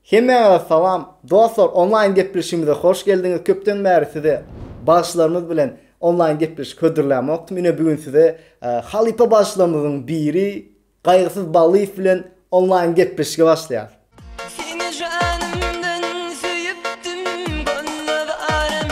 Hemmäňize salam! Dostlar, onlaýn gepleşigimize hoş geldiňiz. Köpden bäri size bagşylarymyz bilen onlaýn gepleşik hödürlämokdym. Ine bu gün size halypa bagşylarymyzyň biri Gaýgysyz Ballyýew bilen onlaýn gepleşige başlaýarys. Seni janymdan söýüpdim, Gönle zarym,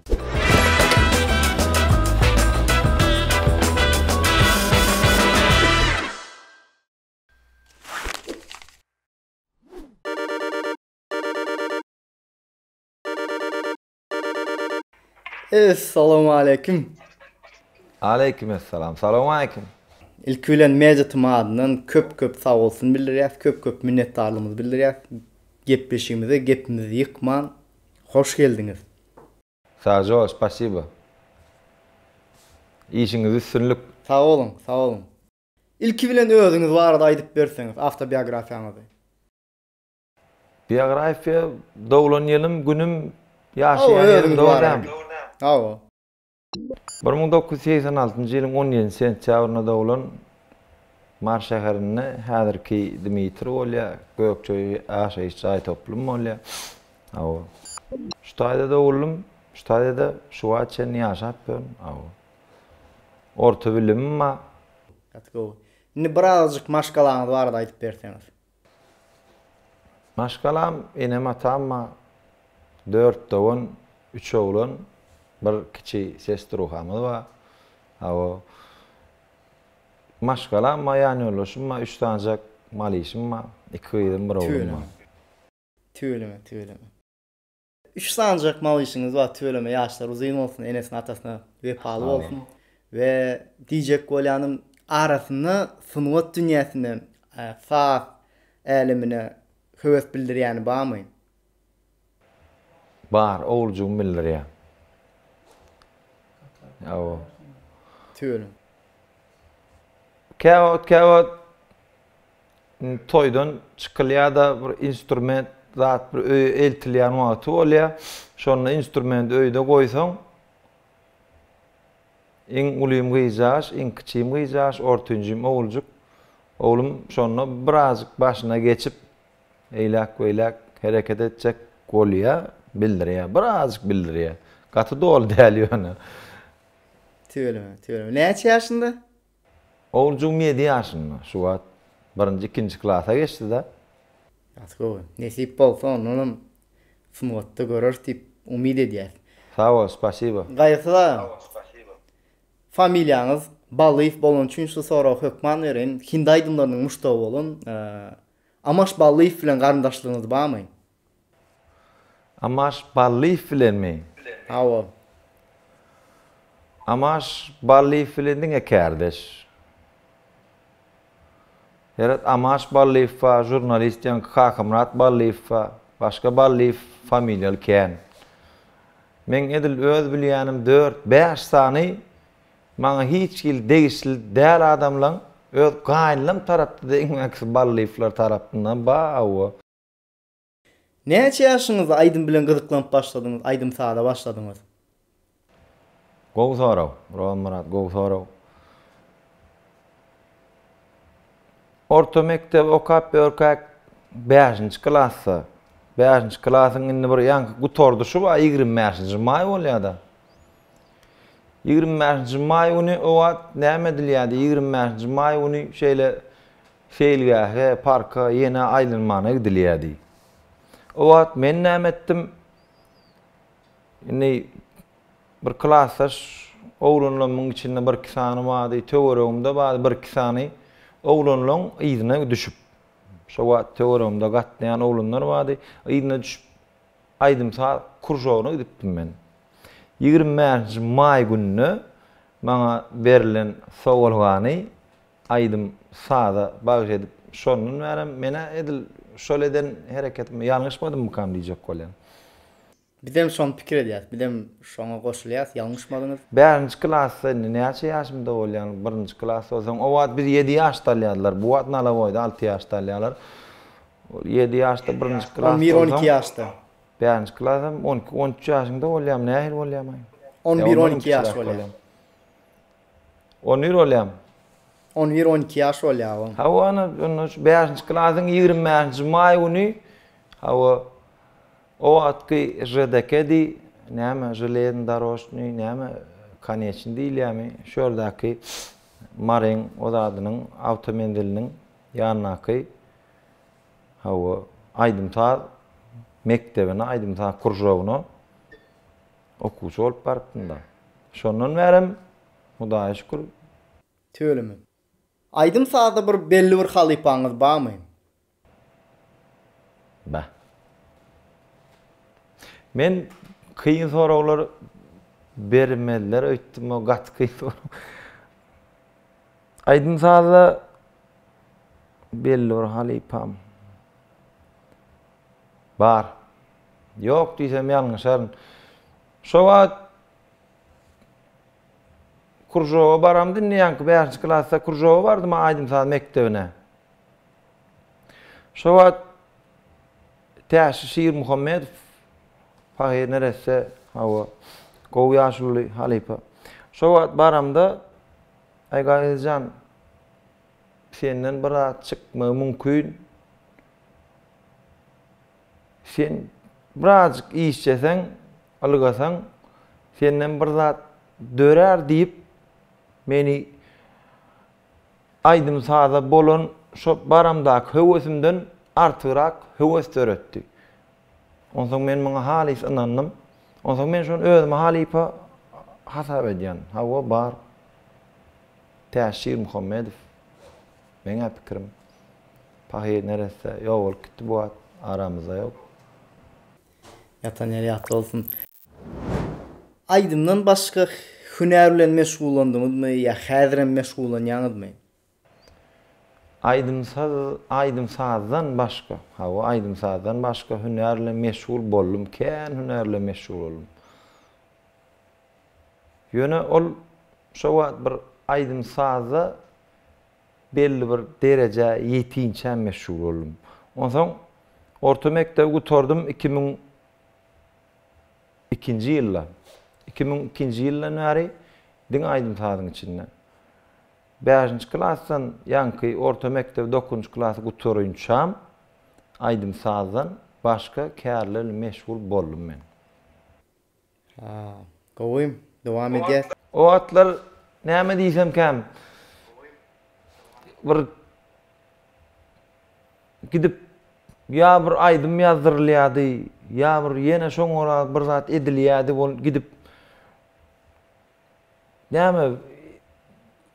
Essalamu aleýkum. Aleýkum essalam. Salamu aleýkum. Ilki bilen Media TM adyndan köp-köp sag bolsun bildirýäs, köp-köp minnetdarlygymyzy bildirýäs. Gepleşigimize gepimizi ýykman, hoş geldiňiz. Sažoo spasibo. Işiňizde üstünlik. Sag boluň, sag boluň. Ilki bilen özüňiz barada aýdyp berseňiz, awtobiografiýaňyzy. Biografiýa, doglan ýylym, günüm, ýaşaýan ýerim, dogry dämi? Hawa. Bir müň dokuz ýüz segsen altynjy ýylyň on ýedinji sentýabrynda doglan Mary şäherinde häzirki Dmitri bolýar, Gökje ýaşaýyş jaý toplumy bolýar. Hawa. Şu taýda doguldym, şu taýda-da şu wagt çenli ýaşap ýörün. Hawa. Orta bilimim bar. Gaty gowy. Indi birazajyk maşgalaňyz barada aýdyp berseňiz. Maşgalam, enem-atamma dört dogan, üç oglan, bir kiçi sestruhamyz bar. Hawa, maşgalamma, ýanýoldaşym bar, üç sanjak malyşym bar, iki gyzym, bir oglum bar. Tüweleme, tüweleme, tüweleme. Üç sanjak mawyşyňyz bar tüweleme ýaşlary uzyn bolsun enesine atasyna wepaly bolsun we diýjek bolýanym arasynda sungat dünýäsine saz älemine höwes bildirýäni barmy? Bar oguljygym bildirýär. Hawa. Tüweleme. Käwagt käwagt toýdan çykylýar-da, bir instrument zat bir öýe eltilýän wagty bolýar. Şonda instrumenti öýde goýsaň, iň ulym gyzjagaş, iň kiçim gyzjagaş, ortanjym oguljyk, oglum şonda birazjyk başyna geçip, eýläk-beýläk hereket etjek bolýar, bildirýär, birazjyk bildirýär. Gaty doly däl ýöne. Tüweleme, tüweleme. Näçe ýaşynda? Oguljygym ýedi ýaşynda, şu wagt birinji, ikinji klasa geçdi-de. Ýaşy gowy. Nesip bolsa, ondanam sungatda göreris diýip umyt edýäs. Sag bol, spasibo. Gaýgysyz aga. Sag bol, spasibo. Familiýaňyz Ballyýew bolany üçin şu soragy hökman bereýin. Hindi aýdymlarynyň muşdagy bolan Amaş Ballyýew bilen garyndaşlygyňyz barmy? Amaş Ballyýew bilenmi? Hawa. Amaş Ballyýew bilen diňe kärdeş. Heret Amaş Ballyýew bar, žurnalist ýaňky Kakamyrat Ballyýew bar. Başga Ballyýew familiýaly kän. Meň edil öz bilýänim dört, bäş sany maňa hiç hili degişli däl adamlaň öz gaýynlam tarapda-da iň mäkisi Ballyýewler tarapyndan bar, hawa. Näçe ýaşyňyzda aýdym bilen gyzyklanyp başladyňyz, aýdym-saza başladyňyz? Gowy sorag, Rowanmyrat, gowy sorag. Orta mekdebi okap ýörkäk, bäşinji klasda, bäşinji klasyň indi bir ýaňky gutardyşy bar, ýigrimi bäşinji maý bolýar-da. Ýigrimi bäşinji maý güni o wagt näme edilýärdi, ýigrimi bäşinji maý güni şeýle Seýilgähe, parka ýene aýlanmana gidilýärdi. O wagt men näme etdim? Indi bir klasdaş oglanlarymyň içinde bir-iki sany bardy, töweregimde bardy bir-iki sany. Oglanlaryň yzyna düşüp, şo wagt töweregimde gatnaýan oglanlar bardy, yzyna düşüp aýdym-saz kružogyna gidipdim men. Ýigrimi bäşinji maý gününe maňa berlen sowalgany Aýdym, saza bagyş edip, şondan bärem men-ä edil şol eden hereketimde ýalňyşmadymmykam diýjek bolýan. Bizem şony pikir edýäs, bizem şoňa goşulýas, ýalňyşmadyňyz. Bärinji klasda indi näçe ýaşymda bolýan, birinji klas bolsaň, o wagt biz ýedi ýaşda alýardylar, bu wagt nalaboýda alty ýaşda alýarlar. Ol ýedi ýaşda birinji klas bolsaň. On bir, on iki ýaşda. Bärinji klasam on iki, on üç ýaşyňda bolýarmy, nähili bolýarmaý? On bir, on iki ýaş bolýar. On bir bolýam. On bir, on iki ýaş bolýa oň. Hawa, ana, onda şu bäşinji klasyň ýigrimi bäşinji maý güni, hawa, o wagtky ŽDK diý, näme, železny darožnyý, näme, koneçny diýilýärmi, şu ýerdäki Maryň o zadynyň awtomenziliniň ýanyndaky, hawa, aýdym-saz mekdebine, aýdym-saz kružogyna. Okuwçy bolup barypdym-da. Şondan bärem, Hudaýa şükür. Tüweleme. Aýdym-sazda bir belli bir halypaňyz barmy? Bar. Men kyn soraglar bermezler öýtdüm, o gaty kyn sorag. Aýdym-sazda belli bir halypam. Bar. Ýok diýsem ýalňyşaryn. Şo wagt kružoga baram diňleýänki bäşinji klasda kružoga bardym-a aýdym-saz mekdebine. Şo wagt Täşli Şirmuhammedow pahyr neresse, hawa, gowy ýaşuly halypa. Şo wagt baramda, Aý Gaýyz jan, senden bir zat çykmagy mümkin. Sen birazjyk işjeseň, ylgasaň, senden bir zat dörär diýip, meni aýdym-saza bolan şo baramdaky höwesimden artygrak höwes döretdi. Onsoň men muňa halys ynandym. Onsoň men şony özüme halypa hasap edýän. Hawa, bar. Täşir Muhammedow. Meň-ä pikirim, pahyr neresse ýok bolup gitdi bu wagt, aramyzda ýok. Ýatan ýeri ýatly bolsun. Aýdymdan başga hünär bilen meşgullandyňyzmy ýa häzirem meşgullanýaňyzmy? Aýdym-saz, aýdym-sazdan başga, hawa, aýdym-sazdan başga hünär bilen meşgul boldum, kän hünär bilen meşgul boldum. Ýöne ol şo wagt bir aýdym-sazda Belli bir derejä ýetinçäm meşhur boldum. Onsoň orta mekdebi gutardym iki müň ikinji ýylda. Iki müň ikinji ýyldan bäri diňe aýdym-sazyň içinde. Bäşinji klasdan ýaňky orta mekdebi dokuzynjy klasy gutaryňçam aýdym-sazdan başga kärli meşgul boldum men. Gowymy? Dowam edýäs. O wagtlar näme diýsemkäm bir gidip ýa bir aýdym ýazdyrylýardy, ýa bir ýene şoňa görä bir zat edilýärdi bol gidip näme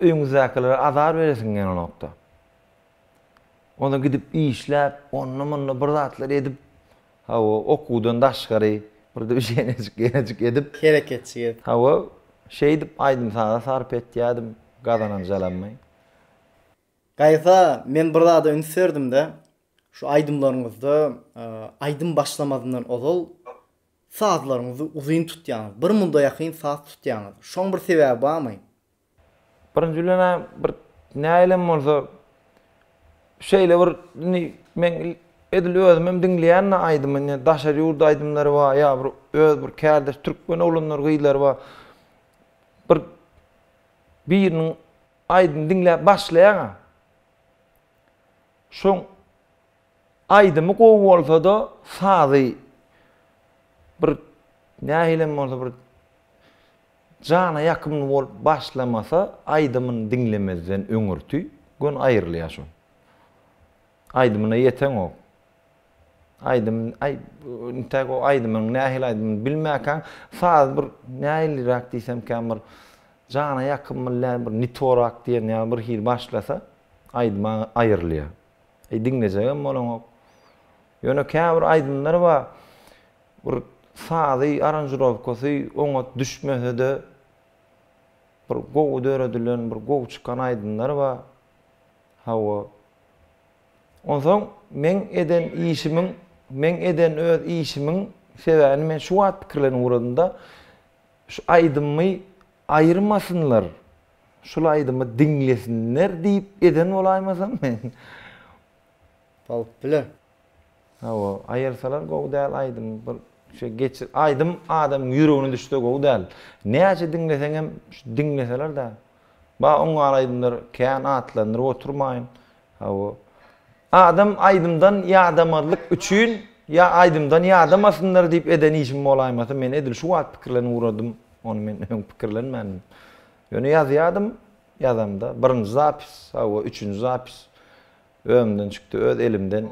öýüňizdäkilere azar beresiň gelnokda. Onda gidip işläp, onda-munda bir zatlar edip, hawa, okuwdan daşgary bir döwşenejik, ýenejik edip. Hereketçi edip. Hawa, şeýdip aýdym-saza sarp etýärdim gazananjalammy. Gaýsa, men bir zada üns berdim-de, şu aýdymlaryňyzda aýdym başlamazyndan ozal sazlaryňyzy uzyn tutýaňyz, bir muda ýakyn saz tutýaňyz. Şoň bir sebäbi barmy? Birinji bilen-ä bir nähilem bolsa şeýle bir indi men edil özümem diňleýän-de aýdymy. Indi daşary ýurt aýdymlary bar, ýa bir öz bir kärdeş türkmen oglanlary, gyzlary bar. Bir biriniň aýdymyny diňläp başlaýaň-a. Şoň aýdymy gowy bolsa-da, sazy bir nähilem bolsa bir Jana ýakymly bolup başlamasa aýdymyny diňlemezden öňürti gön aýrylýa şo. Aýdymyna ýeteňok. Aýdym aý intäk o aýdymyň nähili aýdymyny bilmäkäň saz bir nähiliräk diýsem kän bir jana ýakymly däl bir nitorak diýen ýaly bir hili başlasa aýdyma aýrylýa. Diňlejegem bolaňok. Ýöne käbir aýdymlar bar. Bir sazy, aranžirowkasy oňat düşmese-de, bir gowy döredilen, bir gowy çykan aýdymlar bar. Hawa. Onsoň meň eden işimiň, meň eden öz işimiň sebäbini men şu wagt pikirlenip ugradym-da, şu aýdymmy aýyrmasynlar, şul aýdymy diňlesinler diýip eden bolaýmasam men? Bolup biler. Hawa, aýyrsalar gowy däl aýdym bir şeý geçir aýdym adamyň ýüregine düşse gowy däl. Näçe diňleseňem şu diňleselerdä. Ba oňňar aýdymlar kän atlandyryp oturmaýyn. Hawa. Adam aýdymdan ýadamazlyk üçin ýa aýdymdan ýadamasynlar diýip eden işim bolaýmasa men edil şu wagt pikirlenip ugradym. Ony men öň pikirlenmändim. Ýöne ýazýadym ýazamda birinji zapis, hawa üçünji zapis. Özümden çykdy, öz elimden.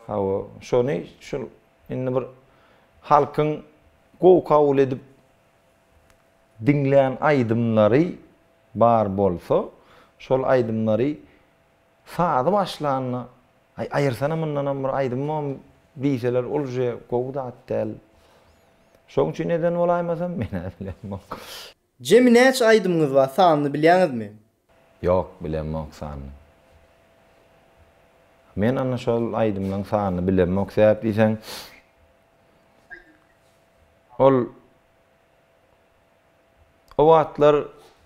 Hawa, şony şul indi bir halkyň gowy kabul edip diňlän aýdymlary bar bolsa, şol aýdymlary sazy başlanda, Aý, aýyrsana mundanam bir aýdymam diýseler, ol uje gowy zat däl. Şoň üçin eden bolaýmasam, men-ä bilemok. Jemi näçe aýdymyňyz bar sanyny bilýäňizmi? Ýok bilemok sanyny. Men ana şol aýdymlaň sanyny bilemok sebäp diýseň ol o wagtlar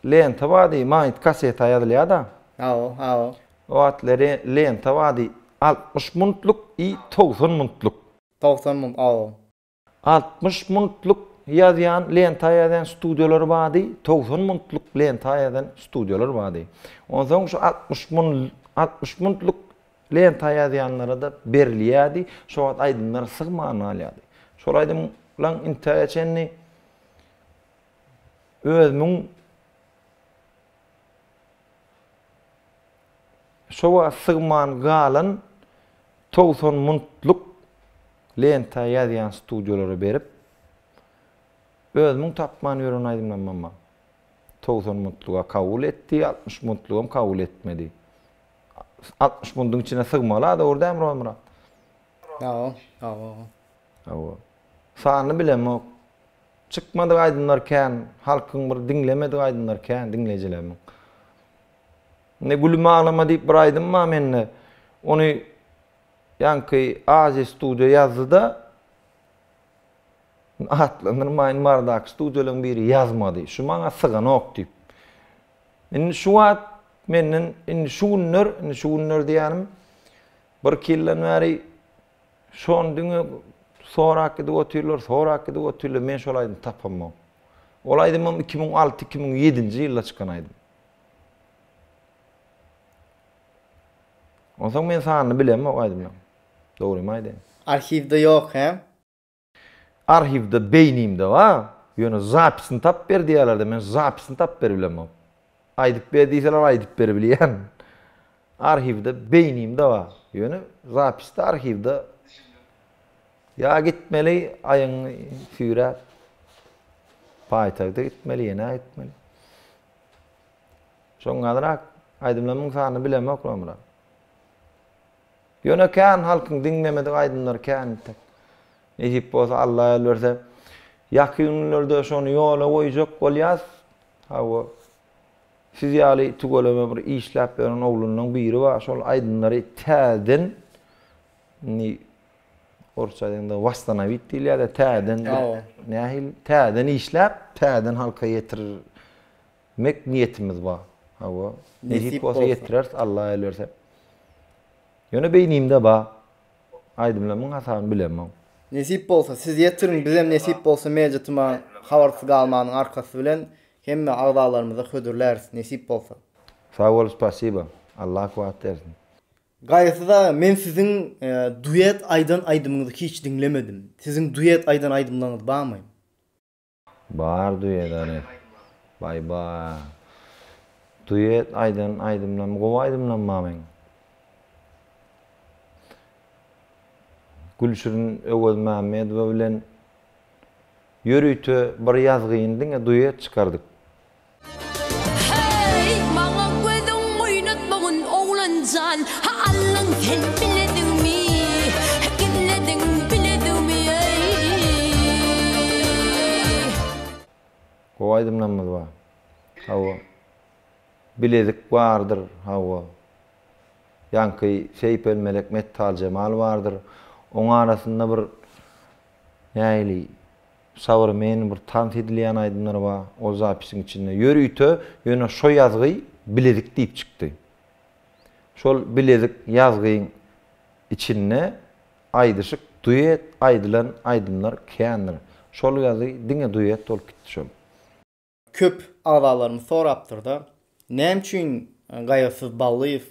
lenta bardy maýyt kaseta ýazylýada. Hawa hawa. O wagtlar lenta bardy altmyş muntluk i togsan muntluk. Togsan munt hawa. Altmyş muntluk ýazýan, lenta ýazýan studiýalar bardy, togsan muntluk lenta ýazan studiýalar bardy. Onsoň şu altmyş mun, altmyş muntluk lenta ýazýanlara-da berilýärdi, şo wagt aýdymlar syg many alýardy. Şol aýdymlaň intäge çenli özümiň Şowa sygman galan togsan muntluk lenta ýazýan studiýalara berip, özümiň tapman ýören aýdymlamamam togsan muntluga kabul etdi, altmyş muntlugam kabul etmedi. Altmyş munduň içine sygmaly-a, dogry dälmi, Rozmyrat? Hawa, hawa, hawa. Hawa. Sanyny bilemok. Çykmadyk aýdymlar kän, halkyň bir diňlemedigi aýdymlar kän, diňleýjilerimiň. Indi Gülüm aglama diýip bir aýdym bar mende. Ony ýaňky Aziýa studio ýazdy-da, atlandyrmaýyn bardaky studiýalaryň biri ýazmady. Şu maňa syganok diýip. Indi şu wagt menden indi şu günler, indi şu günler diýýänim birki ýyldan bäri şony diňe sorap gidip otyrlar, sorap gidip otyrlar, men şol aýdymy tapamok. Ol aýdymym iki müň alty-iki müň ýedinji ýylda çykan aýdym. Onsoň men sanyny bilemok aýdymlaň. Dogrymy aýdaýyn. Arhiwde ýok he? Arhiwde beýnimde bar, ýöne zapisini tapyp ber diýýärlerde men zapisini tapyp beribilemok. Aýdyp ber diýseler aýdyp beribilýän. Arhiwde beýnimde bar ýöne zapisde arhiwde ýa gitmeli aýyň süýräp paýtagta gitmeli ýene gitmeli şoňňarak aýdymlarymyň sanyny bilemok nomra ýöne kän halkyň diňlemedik aýdymlary kän entek nesip bolsa alla ýol berse ýakyn günlerde şony ýola goýjak bolýas hawa Siz ýaly tüweleme bir işläp ýören oglanlaň biri bar şol aýdymlary täzeden indi orsça aýdanda wastanawit diýilýärde täzeden nähili täzeden işläp täzeden halka ýetirmek niýetimiz bar hawa nesip bolsa ýetireris alla elberse ýöne beýnimde bar aýdymlar müň hasabyny bilemok. Nesip bolsa siz ýetiriň bizem nesip bolsa media tuma habarsyz galmanyň arkasy bilen Hemme agzalarymyzy hödürläris nesip bolsa. Sag bol spasiba. Allah kuwat bersin. Gaýysyz aga men siziň duet aýdan aýdymyňyzy hiç diňlemedim. Siziň duet aýdan aýdymlaryňyz barmy? Bar duet ary. Baý baý. Duet aýdan aýdymlarym gowy aýdymlarym bar meň. Gülşirin Öwezmämmedowa bilen Ýörite bir ýazgyn diňe duet çykardyk. Heý, maňa gözüň oýnatma gün oglanjan, ha Allan sen bilediňmi, gizlediň bilediňmi eý. Gowy aýdym namaz bar. Hawa. Bilezik bardyr, hawa. Ýaňky Seýpel Melek Mettal Jemal bardyr. Oň arasynda bir. Nähili Sabyr men bir tans edilýän aýdymlar ba ol zapisiň içinde ýör üýte ýöne şo ýazgy bilezik diýip çykdy şol bilezik ýazgyň içinde aýdyşyk duet aýdylan aýdymlar kändir şol ýazgy diňe duet bolup gitdi şol. Köp agzalarymyz sorapdyrda, näme üçin Gaýgysyz Ballyýew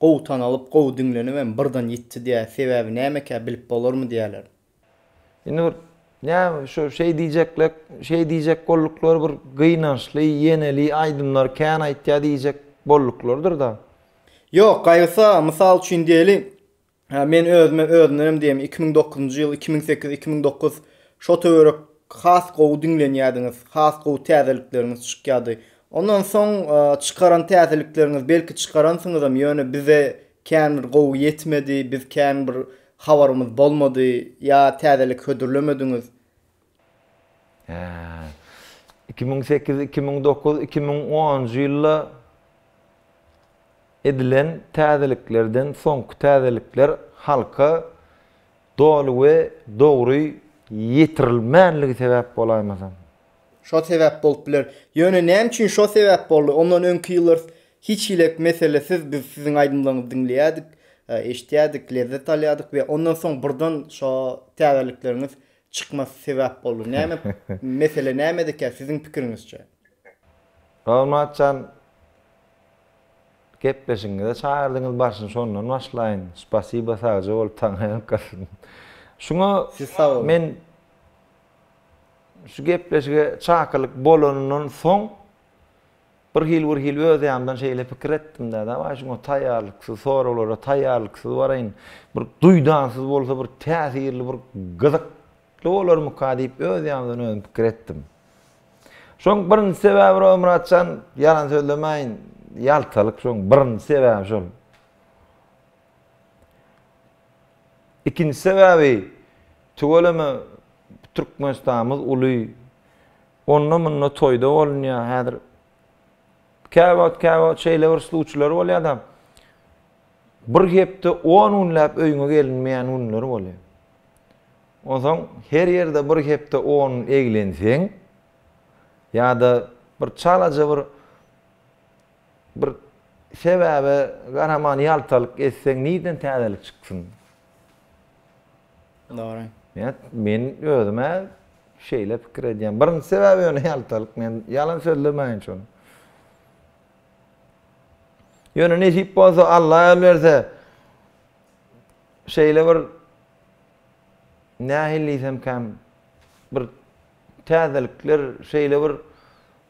gowy tanalyp, gowy diňlenip hem birden ýitdi diýä, sebäbi nämekä, bilip bolarmy diýýärler. Indi bir näme şu şeý diýjeklek, şeý diýjek bolduklary bir gynançly, ýeneli aýdymlar kän aýtýar diýjek bolduklarydyr-da. Ýok, Gaýgysy aga, mysal üçin diýeli, Hä men özüme özümdenem diýem iki müň dokuzynjy ýyl iki müň sekiz iki müň dokuz şo töwerek has gowy diňlenýädiňiz has gowy täzelikleriňiz çykýady ondan soň çykaran täzelikleriňiz belki çykaransyňyzam ýöne bize kän bir gowy ýetmedi biz kän bir habarymyz bolmady ýa täzelik hödürlemediňiz Iki müň sekiz, iki müň dokuz, iki müň onunjy ýylda edilen täzeliklerden soňky täzelikler halka doly we dogry ýetirilmänligi sebäp bolaýmasam? Şo sebäp bolup biler. Ýöne näme üçin şo sebäp boldy? Ondan öňki ýyllar hiç hili meselesiz biz siziň aýdymlaryňyzy diňleýärdik, eşitýärdik, lezzet alýardyk we ondan soň birden şo täzelikleriňiz çykmasy sebäp boldy. Näme mesele nämedikä siziň pikiriňizçe? Rolmatjan gepleşigiňize çagyrdyňyz başyny şondan başlaýyn. Spasiba sagja bol taňaýaňk galsyn. Şuňa Siz sag boluň. men şu gepleşige çakylyk bolanyndan soň Bir hil bir hil öz ýanymdan şeýle pikir etdim-de, dawaý şuňa taýýarlyksyz, soraglara taýýarlyksyz baraýyn, bir duýdansyz bolsa bir täsirli, bir gyzykly bolarmyka diýip öz ýanymdan özüm pikir etdim. Şoň birinji sebäbi Rozymyrat jan, ýalan sözlemäýin, ýaltalyk şoň birinji sebäbi şol. Ikinji sebäbi, tüweleme Türkmenistanymyz uly, Onda munda toýda bolunýa häzir käwagt käwagt şeýle bir sluçylar bolýada bir hepde on günläp öýüňe gelinmeýän günler bolýa onsoň her ýerde bir hepde on eglenseň ýada bir çalaja bir bir sebäbe garaman ýaltalyk etseň nirden täzelik çyksyn. Dogry. Ýa men özüm-ä şeýle pikir edýän. Birinji sebäbi ýöne ýaltalyk. Men ýalan sözlemäýin şony. Ýöne nesip bolsa, Alla ýol berse, şeýle bir nähili diýsemkäm, bir Täzelikler şeýle bir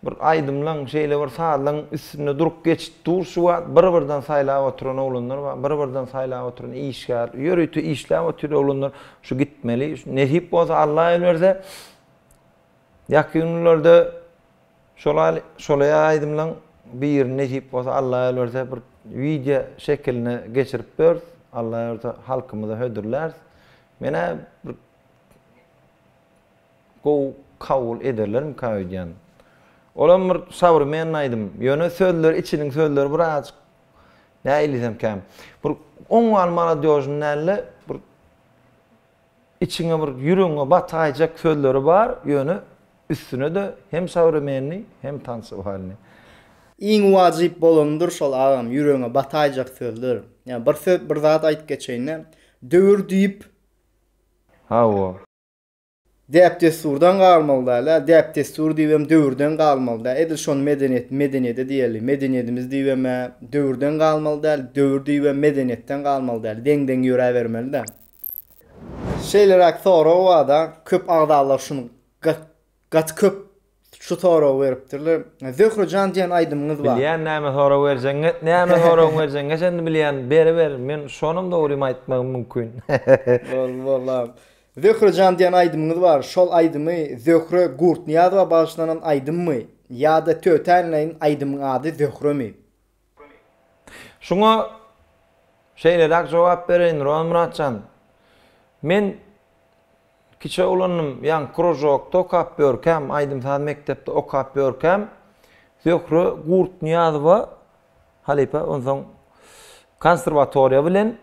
bir aýdymlaň şeýle bir sazlaň üstünde durup geçip dur şu wagt bir birden saýlap oturan oglanlar bar bir birden saýlap oturan işgär ýörite işläp otyr oglanlar şu gitmeli nesip bolsa alla el berse ýakyn günlerde şolaýly şolaýa aýdymlaň birini nesip bolsa alla el berse bir wideo şekiline geçirip bers alla el berse halkymyza hödürlärs menä bir Gowy kabul ederlermika öýdýän. Olam bir sowremenny aýdym. Ýöne sözleri içiniň sözleri birazjyk näiliysem kän. Bir on bal maladýožny dälde bir içiňe bir ýüregiňe bataýjak sözleri bar, ýöne üstünede hem sowremenni hem tansovalny. Iň wajyp bolanydyr şol agam ýüregiňe bataýjak sözler. Ýa bir söz bir zat aýyp geçeýinde döwür diýip. Hawa. Däp-dessurdan galmaly däl-ä, däp-dessur diýibem döwürden galmaly däl. Edil şony medeniýet, medeniýede diýeli. Medeniýedimiz diýibem-ä döwürden galmaly däl, döwür diýibem medeniýetden galmaly däl. Deň-deň ýöräbermeli däl. Şeýleräk sorag bar-da, köp agzalar şuny Gaty köp şu soragy beripdirler. Zöhre jan diýen aýdymyňyz bar. Bilýän näme sorag berjegiňi näme soragyň berjegiňi sen indi bilýän beriber men şonam dogrymy aýtmagym mümkin. Boldy boldy abi. Zöhre jan diýen aýdymyňyz bar şol aýdymy Zöhre Gurtnyýazowa bagyşlanan aýdymmy ýada tötäinleýin aýdymyň ady Zöhremi? Şuňa şeýleräk jogap bereýin, Rowanmyrat jan. Men kiçi oglandym, ýaňky kružokda okap ýörkäm, aýdym-saz mekdepde okap ýörkäm, Zöhre Gurtnyýazowa halypa, onsoň konserwatoriýa bilen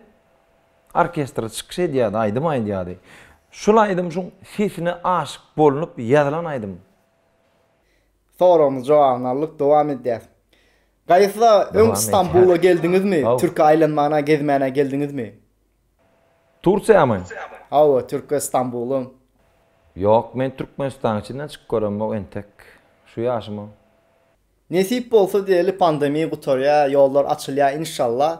orkestre çykyş edýärdi, aýdym aýdýardy. Şol aýdym şuň sesine aşyk bolnup ýazylan aýdym. Soragymyz jogabyny aldyk dowam edýäs. Gaýsa öň Stambula geldiňizmi? Türki aýlanmana gezmäne geldiňizmi? Tursiýamy? Hawa Türkiýe Stambuly. Ýok men Türkmenistanyň içinden çykyp göremok entek şu ýaşyma. Nesip bolsa diýeli pandemiýa gutarýa ýollar açylýa inşallah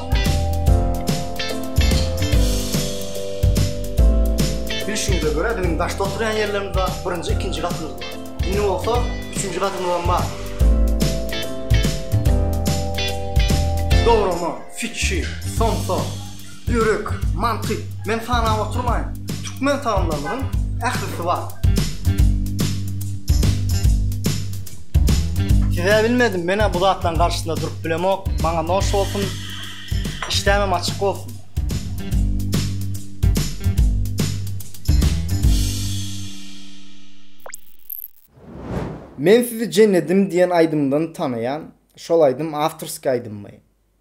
Bilşimize görä, biziň daşda oturýan ýerlerimiz bar, birinji, ikinji gatymyz bar. Indi bolsa üçünji gatymyz hem bar. Dograma, fitçi, somsa, börek, manty, men sanap oturmaýyn. Türkmen tagamlarynyň ählisi bar. Size bilmedim menä bu zatlaryň garşysynda durup bilemok maňa noş bolsun işdämem açyk bolsun. Men sizi jennedim diýen aýdymdan tanaýan, şol aýdym awtorskiý aýdymmy?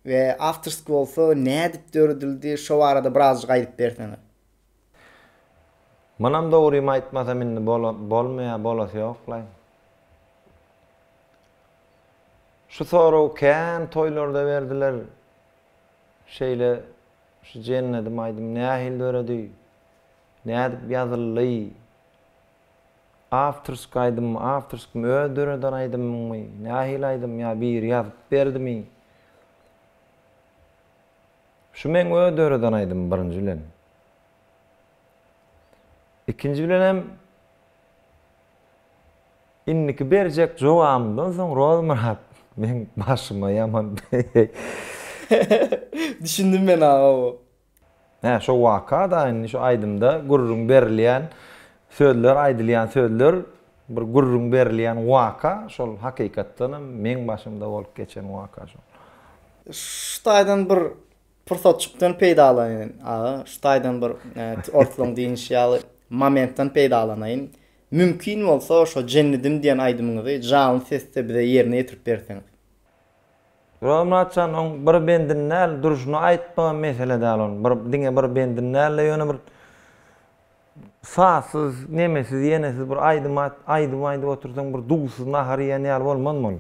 We awtorskiý bolsa nädip döredildi şo barada birazjyk aýdyp berseňiz. Munam dogrymy aýtmasam indi bolmaýa bolasy ýoklaý. Şu soragy kän toýlarda berdiler. Şeýle şu jennedim aýdym nähili döredi? Nädip ýazyldy? Awtorsk aýdymmy, awtorskmy, öz döreden aýdymyňmy, nähili aýdym ýa biri ýazyp berdimi? Şu meň öz döreden aýdymym birinji bilen. Ikinji bilenem indiki berjek jogabymdan soň Rozmyrat meň başyma ýaman Düşündim men aga o. Hä şo waka-da indi şu aýdymda gürrüň berilýän sözler aýdylýan sözler Bir gürrüň berilýän waka şol hakykatdanam meň başymda bolup geçen waka şol. Şu taýdan bir pursatjykdan peýdalanyň aga, şu taýdan bir ortalaň diýinişi ýaly momentden peýdalanaýyn. Mümkin bolsa şo Jennedim diýen aýdymyňyzy janly sesde bize ýerine ýetirip berseňiz. Ýok Myratjan oň bir bendini däl durşuna aýtmagam mesele däl onuň bir diňe bir bendini däl-de ýöne bir Sazsyz, nemesiz, ýenesiz bir aýdym at, aýdym aýdyp otursaň bir duzsuz nahar iýen ýaly bolmazmy ol?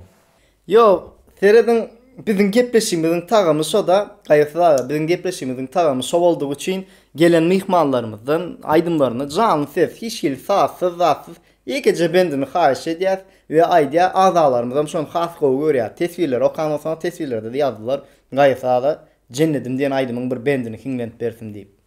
Ýok, serediň, biziň gepleşigimiziň tagamy şo-da, Gaýgysyz aga, biziň gepleşigimiziň tagamy şo boldugy üçin gelen myhmanlarymyzdan aýdymlaryny janly ses, hiç hili sazsyz, zatsyz, ýekeje bendini haýyş edýäs we aýdýar, agzalarymyzam şony has gowy görýär. Teswirleri okan bolsaňyz, teswirlerde-de ýazdylar, Gaýgysyz aga Jennedim diýen aýdymyň bir bendini hiňlenip bersin diýip.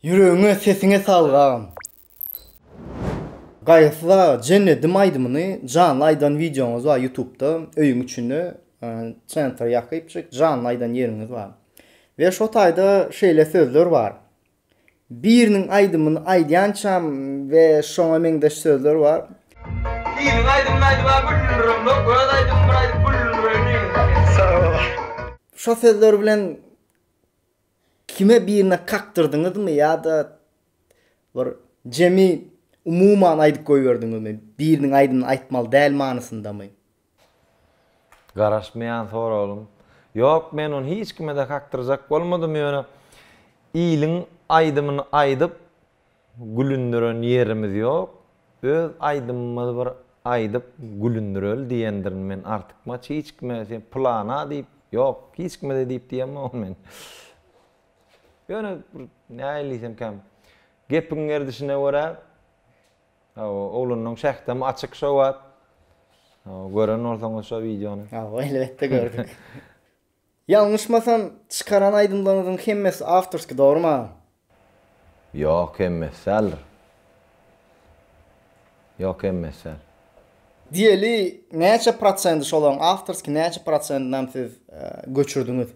Ýüregiňe sesiňe saglyk agam. Gaýgysyz aga jennedim aýdymyny janly aýdan wideoňyz bar ýutubda öýüň içinde çentar ýakypjyk janly aýdan ýeriňiz bar. We şo taýda şeýle sözler bar. Biriniň aýdymyny aýdýançam we şoňa meňzeş sözler bar. Biriniň aýdymyny aýdyp a gülündiremzok öz aýdymymy bir aýdyp gülündireli diýdiňiz. Sag bol. Şo sözler bilen Kime birine kakdyrdyňyzmy ýa-da bir jemi umuman aýdyp goýberdiňizmi, biriniň aýdymy aýtmaly däl manysyndamy? Garaşmaýan soragym. Ýok, men ony hiç kime-de kakdyrjak bolmadym, ýöne iliň aýdymyny aýdyp, gülündiren ýerimiz ýok, öz aýdymymyzy bir aýdyp gülündireli diýendirin men artykmaç hiç kime sen pylana diýip ýok hiç kime-de diýip diýemogyn men. Ýöne bir nähili diýsemkäm gepiň gerdişine görä hawa oglanlaň şähtem açyk şo wagt. Hawa gören bolsaňyz şo wideony. Hawa elbetde gördük. Ýalňyşmasam çykaran aýdymlaryňyzyň hemmesi awtorskiý dogrymy agam? Ýok hemmesi däldir. Ýok hemmesi däl. Diýeli näçe prosendi şolaryň awtorskiý näçe prosendinam siz göçürdiňiz?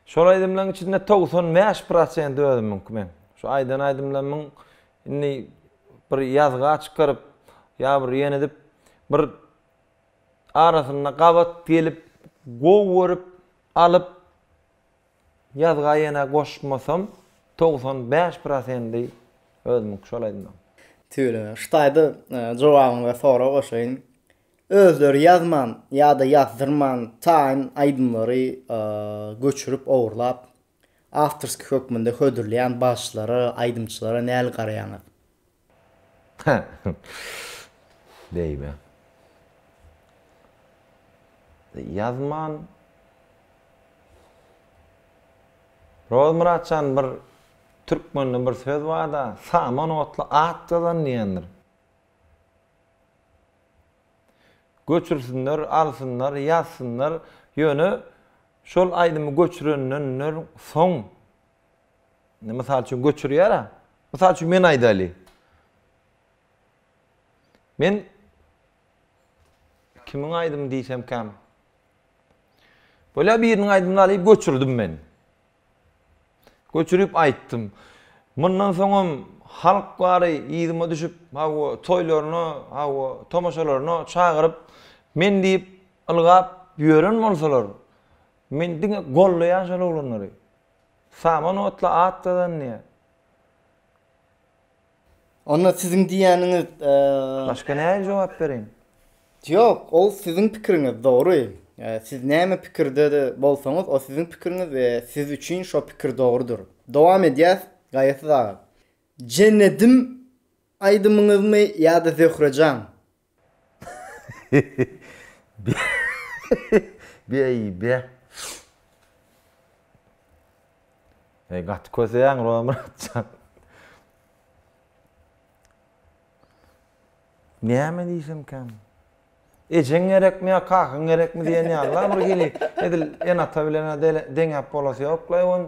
Şol aýdymlaryň içinde togsan bäş prosendi özümiňki meň. Şu aýdan aýdymlarymyň indi bir ýazga çykaryp ýa bir ýene edip bir arasynda gabat gelip gowy görüp alyp ýazga ýene goşmasam togsan bäş prosendi özümiňki şol aýdymyň. Tüweleme hytaýda jogabyňyza sorag goşaýyn özleri ýazman ýada ýazdyrman taýyn aýdymlary göçürip ogurlap Awtorskiý hökmünde hödürleýän bagşylara, aýdymçylara näl garaýaňyz? Beýime. Ýazman. Rozmyrat jan bir türkmende bir söz barda, saman otly at ýazan diýendir. Göçürsinler, alsynlar, ýazsynlar, ýöne şol aýdymy göçürenden soň, indi mysal üçin göçürýär-ä, mysal üçin men aýdaýly, men kimiň aýdymy diýsemkäm, bolýar biriniň aýdymyny alyp göçürdim men, Göçürip aýtdym. Mundan soňam halk bary yzyma düşüp, hawa, toýlaryna, hawa, tomaşalaryna çagyryp, men diýip ylgap ýören bolsalar, men diňe gollaýan şol oglanlary. Saman otla at gazanýa. Onda siziň diýýäniňiz, e. Başga nähili jogap bereýin? Ýok, ol siziň pikiriňiz, dogry. Siz näme pikirde-de bolsaňyz, o siziň pikiriňiz we siz üçin şo pikir dogrudyr. Dowam edýäs, Gaýasyz aga. Jennedim aýdymyňyzmy ýa-da Zöhre jan? Beýbe. Eý gaty köseýäň Romyrat jan. Näme diýsemkäm? Ejeň gerekmi ýa kakaň gerekmi diýen ýaly-la bir hili edil ene-ata bilen-ä deňäp bolasy ýok-la ýogun.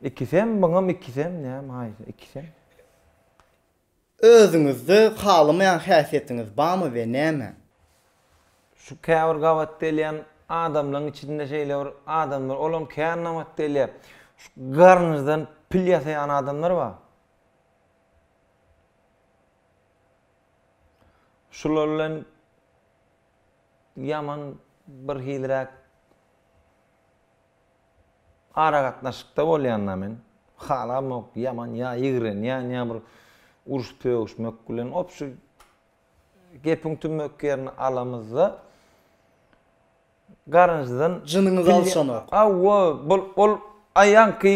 Ikisem, muňam ikisem näme haýsy ikisem. Özüňizde halamaýan häsiýetiňiz barmy we näme? Şu käbir gabat gelýän adamlaň içinde şeýle bir adam bar, olam kän nabat gelýä. Şu garnyzdan pil ýasaýan adamlar bar. Şular bilen ýaman birhiliräk Aragatnaşykda bolýanda men halamok ýaman ýa ýigrenýän ýa bir uruş sögüşmek bilen opşy gepiň tümmek ýerini alamyzda garynjydan Jynyňyzy alşanok. Hawa bul ol aýanky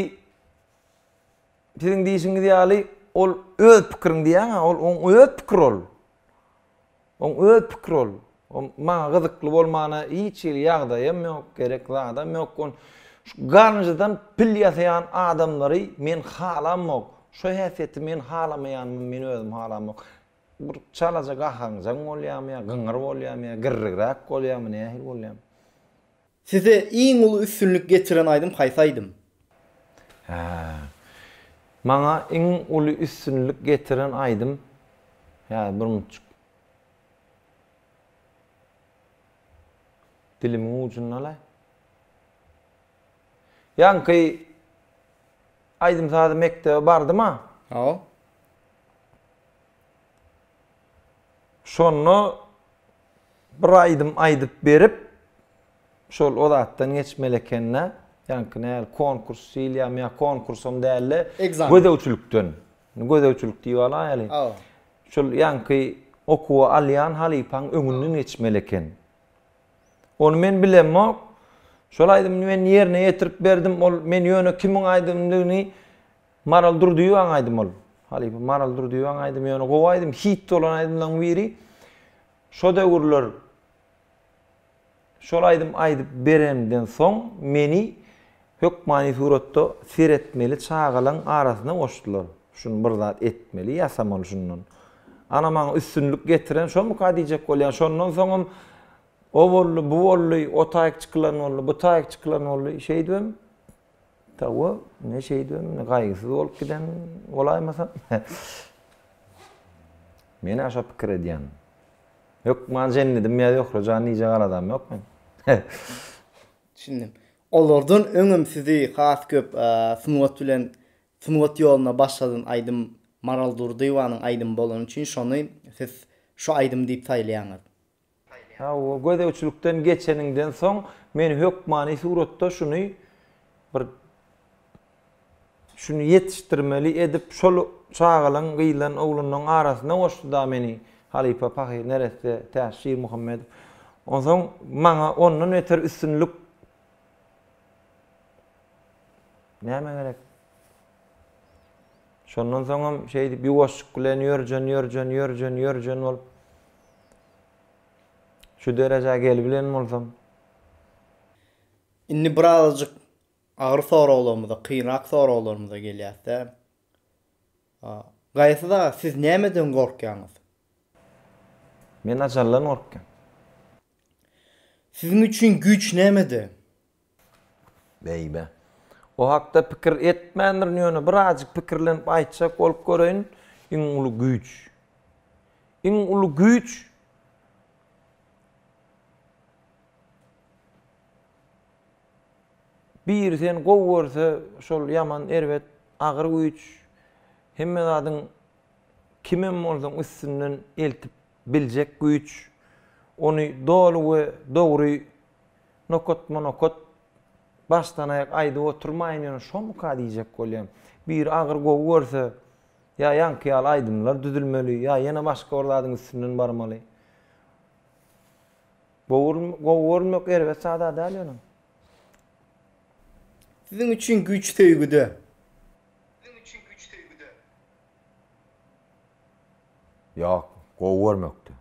siziň diýişiňiz ýaly ol öz pikiriň diýýäňä ol oň öz pikir ol. Oň öz pikir ol. Ol maňa gyzykly bolmana hiç hili ýagdaýam ýok, gerek zadam ýok. Ol şu garynjydan pil ýasaýan adamlary men halamok. Şu häsiýeti men halamaýanymy men özüm halamok. Bir çalaja gahaňjaň bolýamy ýa gyňyr bolýamy ýa girrigräk bolýamy nähili bolýamy. Size iň uly üstünlik getiren aýdym haýsy aýdym? Hä. Maňa iň uly üstünlik getiren aýdym häzir bir munçuk dilimiň ujunda-laý. Ýaňky aýdym-sazy mekdebe bardym-a. Hawa. Şonda bir aýdym aýdyp berip, şol o zatdan geçmeli eken-dä. Ýaňky näl, konkurs diýilýärmi ýa konkursam däl-de, Ekzamen. gözegçilikden. Indi gözegçilik diýip alaýaly. Hawa. Şol ýaňky okuwa alýan halypaň öňünden geçmeli eken. Ony men bilemok. Şol aýdymy men ýerine ýetirip berdim. Ol men ýöne kimiň aýdymdygyny Maral Durdyýewaň aýdymy ol. Halypa Maral Durdyýewaň aýdymy ýöne gowy aýdym, hit bolan aýdymlaryň biri. Şo döwürler şol aýdym aýdyp berenden soň meni hökmany suratda seretmeli çagalaň arasyna goşdular. Şuny bir zat etmeli, ýasamaly şundan. Ana maňa üstünlik getiren şomyka diýjek bolýan. Şondan soňam o boldy, bu boldy, o taýyk çykylan boldy, bu taýyk çykylan boldy. Şeýdibem Hawa, ne şeýdibem, ne gaýgysyz bolup giden bolaýmasam? Men-ä şo pikir edýän. Hökman jennedim ýa Zöhre jan diýjek aladam ýok meň. Düşündim. Olardan öňem sizi has köp sungat bilen, sungat ýoluna başladan aýdym Maral Durdyýewanyň aýdymy bolany üçin şony siz şu aýdym diýip saýlaýaňyz. Hawa, gözegçilikden geçeniňden soň men hökmany suratda şuny bir şuny ýetişdirmeli edip şol çagalaň gyzlan oglanlaň arasyna goşdy-da meni halypa pahyr neresse tä Şirmuhammedow. Onsoň maňa ondan beter üstünlik näme gerek? Şondan soňam şeýdip ýuwaşjyk bilen ýörjen, ýörjen, ýörjen, ýörjen bolup. Şu derejä gelibilen bolsam. Indi birazajyk agyr soraglarymyza, kynrak soraglarymyza gelýäs-dä. Gaýsy dag? Siz nämeden gorkýaňyz? Men ajaldan gorkýan. Siziň üçin güýç nämede? Beýbe. O hakda pikir etmändirin, ýöne birazajyk pikirlenip aýtjak bolup göreýin, iň uly güýç. Iň uly güýç. Biri seni gowy görse, şol ýaman erbet, agyr güýç. Hemme zadyň kim hem bolsaň üstünden eltip biljek güýç. Ony doly we dogry Nokatma-nokat başdanaýak aýdyp oturmaýyn ýöne şomyka diýjek bolýan. Biri agyr gowy görse, ýa ýaňky ýaly aýdymlar düzülmeli, ýa ýene başga bir zadyň üstünden barmaly. Gowy görmek erbet zad-a däl ýöne. Siziň üçin güýç söýgüde. Ýok, gowy görmekde.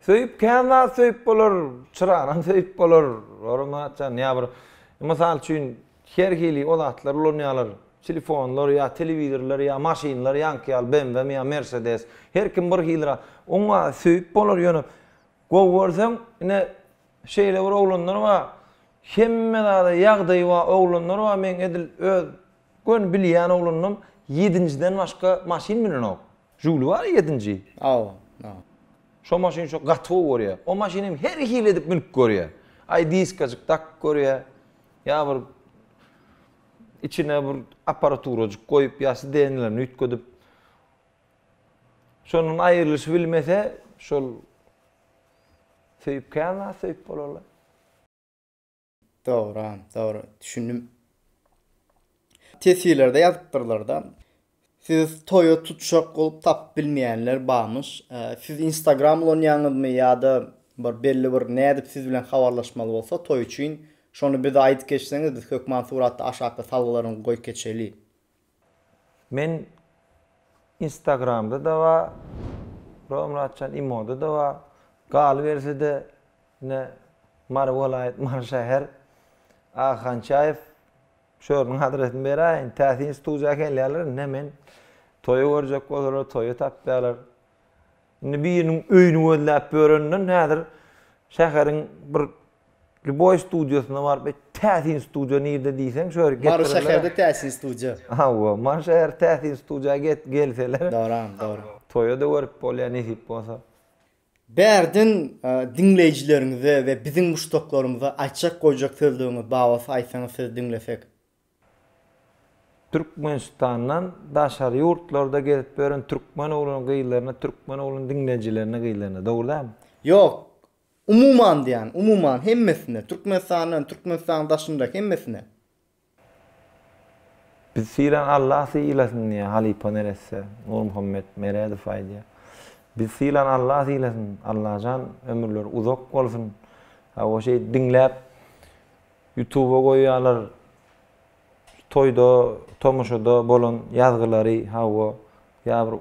Söýüp kän zat söýüp bolar, çyranam söýüp bolar. Ora Myratjan, ýa bir mysal üçin her hili o zatlar ulanýarlar. Telefonlar ýa telewizorlar ýa maşynlar ýaňky ýaly BMW mi ýa Mercedes. Her kim bir hili zat. Oň wagt söýüp bolar ýöne gowy görseň ine şeýle bir oglanlar bar. Hemme zada ýagdaýy bar oglanlar bar. Meň edil öz göni bilýän oglanlarym ýedinjiden başga maşyn münenok. Žuli bar ýedinji. Aw. Şo maşyn şo gaty gowy görýä. O maşyny hem her hili edip münüp görýä. Aý diskajyk dakyp görýä. Ýa bir içine bir aparaturajyk goýup ýa sidenlerini üýtgedip. Şondan aýrylyşy bilmese şol söýüp kän zat söýüp bolarlaý. Dogryam, dogry. Düşündim. Teswirlerde ýazypdyrlar-da. Siz toýa tutjak bolup tapyp bilmeýänler barmyş. Siz Instagram ulanýaňyzmy ýa-da bir belli bir nädip siz bilen habarlaşmaly bolsa toý üçin şony bize aýdyp geçseňiz biz hökman suratda aşakda salgylaryňy goýup geçeli. Men instagramda da ba ro Myratjan imoda da ba galybersede ine Mary welaýat Mary şäher Aga Hançaýew şu ýeriniň adresini beräýin täsin studiýa gelýärler ine men toýy görjek bolsalar toýy tapýarlar Indi biriniň öýüni gözläp ýörenden häzir şäheriň bir lýuboý studiýasyna baryp, Eý, täsin studiýa nirde diýseň, şo ýeri getirirler. Mary şäherde täsin studiýa. Hawa, Mary şäher täsin studiýa gelseler. Dogryam, dogry. Toýa-da görüp bolýar nesip bolsa. Bärden diňleýjileriňize we biziň muşdaklarymyza aýtjak-goýjak sözleriňiz babatda aýtsaňyz sizi diňlesek. Türkmenistandan daşary ýurtlarda gezip ýören türkmen oglan gyzlaryna türkmen oglan diňleýjilerine gyzlaryna dogry dälmi? Ýok. Umuman diýýän, umuman hemmesine, Türkmenistandan, Türkmenistanyň daşynda hemmesine. Biz sylan Allah sylasyn diýýä halypa neresse Nurmuhammet Meredow aýdýa. Biz sylan Allah sylasyn Allajan ömürleri uzak bolsun. Hawa şeýdip diňläp Ýutuba goýýalar toýda tomaşada bolan ýazgylary hawa ýa bir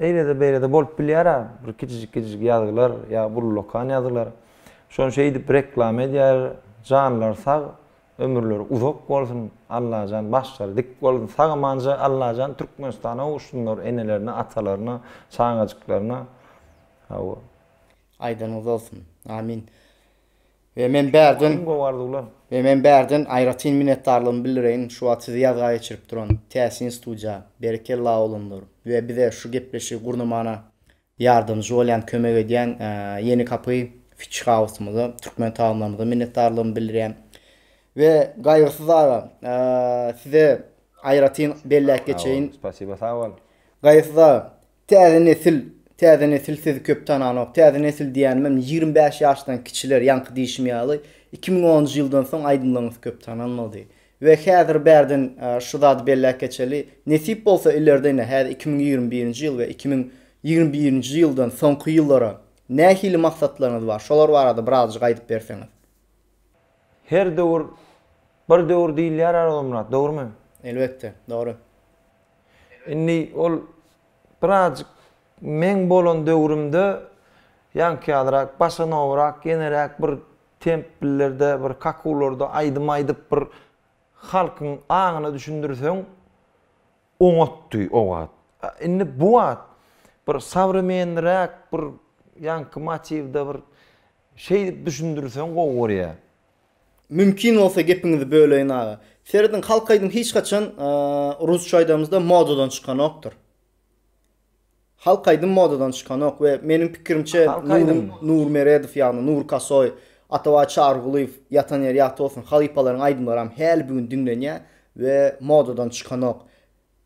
eýlede beýlede bolup bilýärä bir kiçijik kiçijik ýazgylar ýa ullakan ýazgylar şony şeýdip reklama edýär janlary sag ömürleri uzak bolsun Allajan başlary dik bolsun sag amanja Allajan Türkmenistana gowuşsynlar enelerine atalaryna çagajyklaryna hawa. Aýdanyňyz bolsun. Amin. We men bärden Iň gowy arzuwlar. We men bärden aýratyn minnetdarlygymy bildireýin şu wagt sizi ýazga geçirip duran Täsin studiýa, berekella oglanlar we bize şu gepleşigi gurnamana ýardamjy bolýan, kömek edýän Ýeni kapy Fitch House-myza, türkmen tagamlarymyza minnetdarlygymy bildirýän. We Gaýgysyz aga, size aýratyn belläp geçeýin. Sag bol, spasiba, sag bol. Gaýgysyz aga, Täze nesil, täze nesil sizi köp tananok. Täze nesil diýänimem ýigrimi bäş ýaşdan kiçiler, ýaňky diýşim ýaly, iki müň onunjy ýyldan soň aýdymlaryňyz köp tanalmady. We häzir bärden şu zady belläp geçeli, nesip bolsa ileride ine häzir iki müň ýigrimi birinji ýyl we iki müň ýigrimi birinji ýyldan soňky ýyllara nähili maksatlaryňyz bar, şolar barada birazajyk aýdyp berseňiz. Her döwür bir döwür diýilýär Arazmyrat, dogrymy? Elbetde, dogry. Indi ol birazjyk meň bolan döwrümde ýaňky ýalyrak, bosanowrak, ýeneräk bir templerde, bir kakuwlarda aýdym aýdyp bir halkyň aňyna düşündirseň oňatdy o wagt. Indi bu wagt bir sowremenniräk bir ýaňky motiwde bir şeýdip düşündirseň gowy görýä. Mümkin bolsa gepiňizi böleýin aga. Serediň halk aýdym hiç haçan rusça aýdamyzda modadan çykanokdyr. Halk aýdym modadan çykanok we meniň pikirimçe Nur Meredow ýagny Nur Kasoý, Atabaý Çarygulyýew ýatan ýeri ýagty bolsun halypalaryň aýdymlaram häli bu gün diňlenýär we modadan çykanok.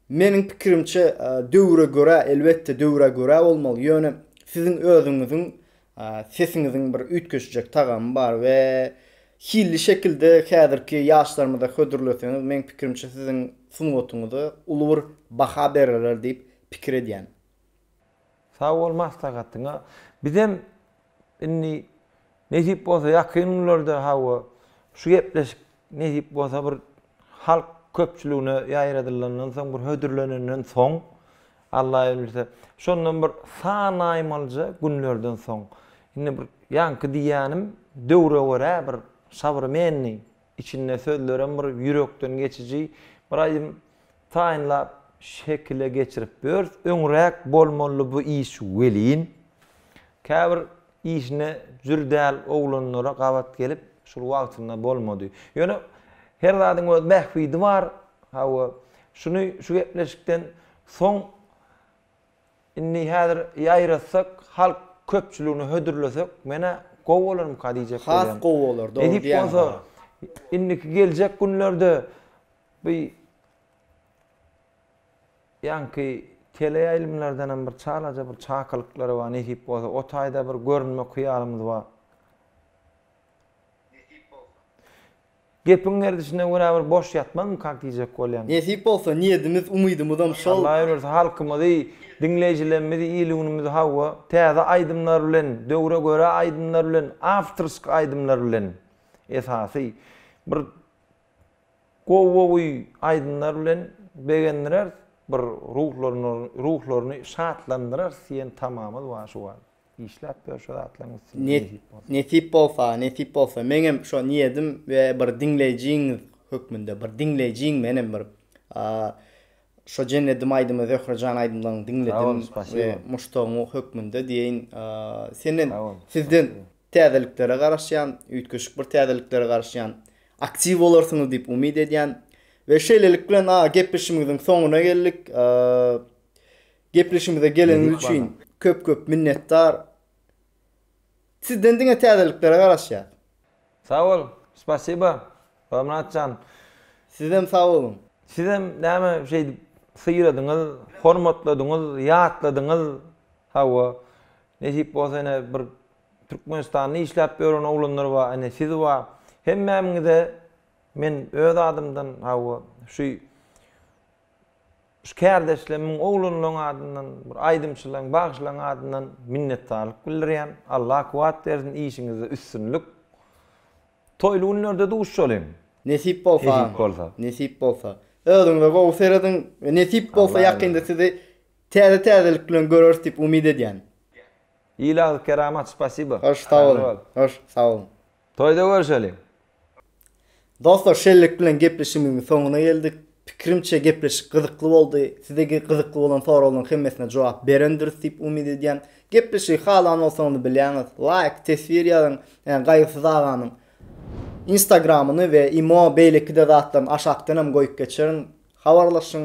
Meniň pikirimçe, döwre görä, elbetde döwre görä bolmaly, ýöne siziň özüňiziň sesiňiziň bir üýtgeşjek tagamy bar we hilli şekilde häzirki ýaşlarymyza hödürleseňiz, meniň pikirimçe siziň sungatyňyza uly bir baha bererler diýip pikir edýän. Sag bol maslahatyňa. Bizem indi nesip bolsa ýakyn günlerde hawa şu gepleşik nesip bolsa bir halk köpçüligine ýaýradylandan soň bir hödürlenenden soň Alla izin berse şondan bir sanaýmalyja günlerden soň indi bir ýaňky diýýänim döwre görä bir şabyrmenli Içinde sözlerem bir ýürekden geçiji. Bir aýdym taýynlap şekile geçirip börs öňräk bolmaly bu iş welin käbir işine jür däl oglanlara gabat gelip şul wagtynda bolmady. Ýöne her zadyň öz bähbidi bar. Hawa, şuny şu gepleşikden soň Indi häzir ýaýratsak, halk köpçüligine hödürlesek, men-ä gowy bolarmyka diýjek Has gowy bolar, dogry Nesip diýýäň, bolsa, ha. indiki geljek günlerde bu ýaňky teleýaýlymlardanam bir çalaja bir çakylyklary bar, nesip bolsa, o taýda bir görünmek hyýalymyz bar. Nesip bolsa. Gepiň gerdişine görä bir boş ýatmazmy kak diýjek bolýan. Nesip bolsa niýedimiz umydymyzam şol. Allah ömürsi halkymyzy diňleýjilermizi il-günümizi hawa täze aýdymlar bilen döwre görä aýdymlar bilen awtorsk aýdymlar bilen esasy bir gowy-gowy aýdymlar bilen begendireris bir ruhlaryny ruhlaryny şatlandyrarys diýen tamamyz bar şu wagt. Işläp ýör şo zatlaryň üstünde nesip bolsa. Nesip bolsa, nesip bolsa. Meňem şo niýedim we bir diňleýjiňiz hökmünde, bir diňleýjiň menem bir şo jennedim aýdymy Zöhre jan aýdymlaryňy diňledim we muşdagyňy hökmünde diýeýin senden sizden täzeliklere garaşýan, üýtgeşik bir täzeliklere garaşýan. Aktiw bolarsyňyz diýip umyt edýän. We şeýlelik bilen gepleşigimiziň soňuna geldik. Gepleşigimize geleniňiz üçin köp köp minnetdar. Sizden diňe täzeliklere garaşýas. Sag bol, spasiba, Bagmyrat jan. Sizem sag boluň. Sizem näme şeýdip syýladyňyz, hormatladyňyz, ýatladyňyz. Hawa, nesip bolsa ine bir Türkmenistanda işläp ýören oglanlar bar, ine siz bar. Hemmämiňize men öz adymdan, hawa, şu Şu kärdeşle müň oglanlaň adyndan, bir aýdymçylaň, bagşylaň adyndan minnetdarlyk bildirýän. Allah kuwwat bersin, işiňizde üstünlik. Toýly günlerde duşalyň. Nesip bolsa. Nesip bolsa. Nesip bolsa. Özüňize gowy serediň we nesip bolsa ýakynda sizi täze täzelik bilen göreris diýip umyt edýän. Ilah kerama spasibo. Hoş sag boluň. Hoş sag boluň. Toýda görşeliň. Dostlar şellik bilen gepleşigimiziň soňuna geldik. Pikirimçe gepleşik gyzykly boldy. Size gyzykly bolan soraglaryň hemmesine jogap berendiris diýip umyt edýän. Gepleşigi halan bolsaňyz bilýäňiz laýk, teswir ýazyň. Ýa Gaýgysyz aganyň Instagramyny we imo beýleki-de zatlaryny aşakdan hem goýup geçerin. Habarlaşyň.